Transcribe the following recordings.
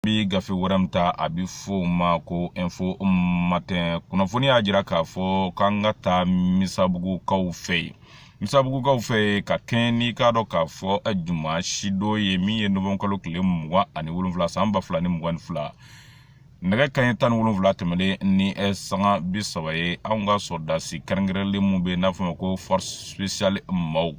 bɛ gafe wɛrɛ min ta a bɛ fɔ o ma ko info matin kunnafoni y'a jira k'a fɔ k'an ka taa misabugukaw fɛ yen misabugukaw fɛ yen ka kɛɲɛ n'i k'a dɔn k'a fɔ eh, dimansi don ye min ye nowanburukalo tile mugan ani wolonwula san ba fila ni mugan ni fila nɛgɛ kanɲɛ tan ni wolonwula tɛmɛlen ni eh, sanga bi saba ye anw ka sɔrɔdasi kɛrɛnkɛrɛnlen minnu bɛ yen n'a f'u ma ko force spéciale maaw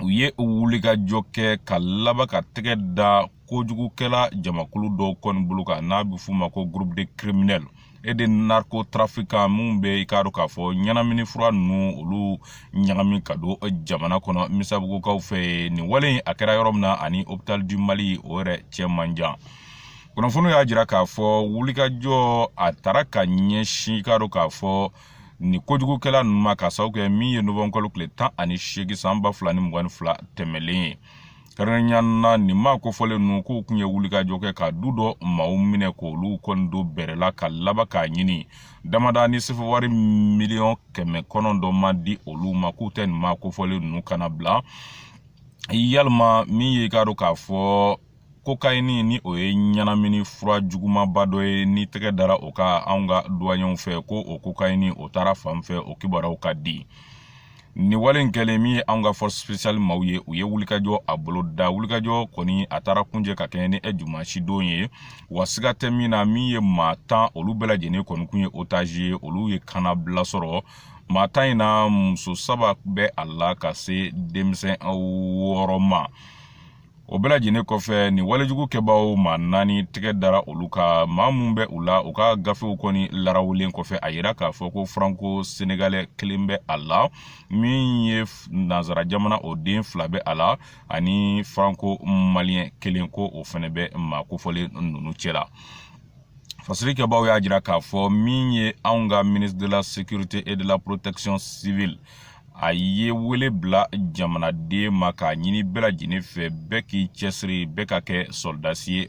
u ye wulikajɔ kɛ ka laban ka tɛgɛ da kojugukɛla jamakulu dɔw kɔni bolo kan n'a bɛ f'u ma ko groupe de criminels et de narcotrafiquants minnu bɛ i k'a dɔn k'a fɔ ɲɛnamini fura ninnu olu ɲagami ka don jamana kɔnɔ misabugukaw fɛ yen nin wale in a kɛra yɔrɔ min na ani hôpital du mali o yɛrɛ cɛ man jan kunnafoniw y'a jira k'a fɔ wulikajɔ a taara ka ɲɛsin i k'a dɔn k'a fɔ nin kojugukɛla ninnu ma k'a sababu kɛ min ye nowanburukalo tile tan ani seegin san ba fila ni mugan ni fila tɛmɛlen ye kɛrɛnkɛrɛnya na nin maa kofɔlen ninnu k'u kun ye wulikajɔ kɛ ka du dɔ maaw minɛ k'olu kɔni don bɛrɛ la ka laban k'a ɲini damada ni sefewari miliyɔn kɛmɛ kɔnɔntɔn ma di olu ma k'u tɛ nin maa kofɔlen ninnu kannabila walima min y'i k'a dɔn k'a fɔ kokayini ni o ye ɲɛnamini fura jugumaba dɔ ye ni tɛgɛ dara o kan anw ka duwaɲɛw fɛ ko o kokayini o taara fan fɛ o kibaruyaw ka di nin wale in kɛlen min ye anw ka force spéciale maaw ye u ye wulikajɔ a boloda wulikajɔ kɔni a taara kuncɛ ka kɛɲɛ ni e dimansi don ye wa siga tɛ min na min ye maa tan olu bɛɛ lajɛlen kɔni kun ye otage ye olu ye kannabila sɔrɔ maa tan in na muso saba bɛ a la ka se denmisɛn wɔɔrɔ ma o bɛɛ lajɛlen kɔfɛ nin walejugu kɛbaaw maa naani tɛgɛ dara olu kan maa minnu bɛ u la u ka gafew kɔni larawulen kɔfɛ a yira k'a fɔ ko franco sénégalais kelen bɛ a la min ye nansara jamana o den fila bɛ a la ani franco malien kelen ko o fana bɛ maa kofɔlen ninnu cɛ la fasiri kɛbaaw y'a jira k'a fɔ min ye anw ka ministre de la sécurité et de la protection civile a ye wele bila jamanaden ma k'a ɲini bɛɛ lajɛlen fɛ bɛɛ k'i cɛsiri bɛɛ ka kɛ sɔrɔdasi ye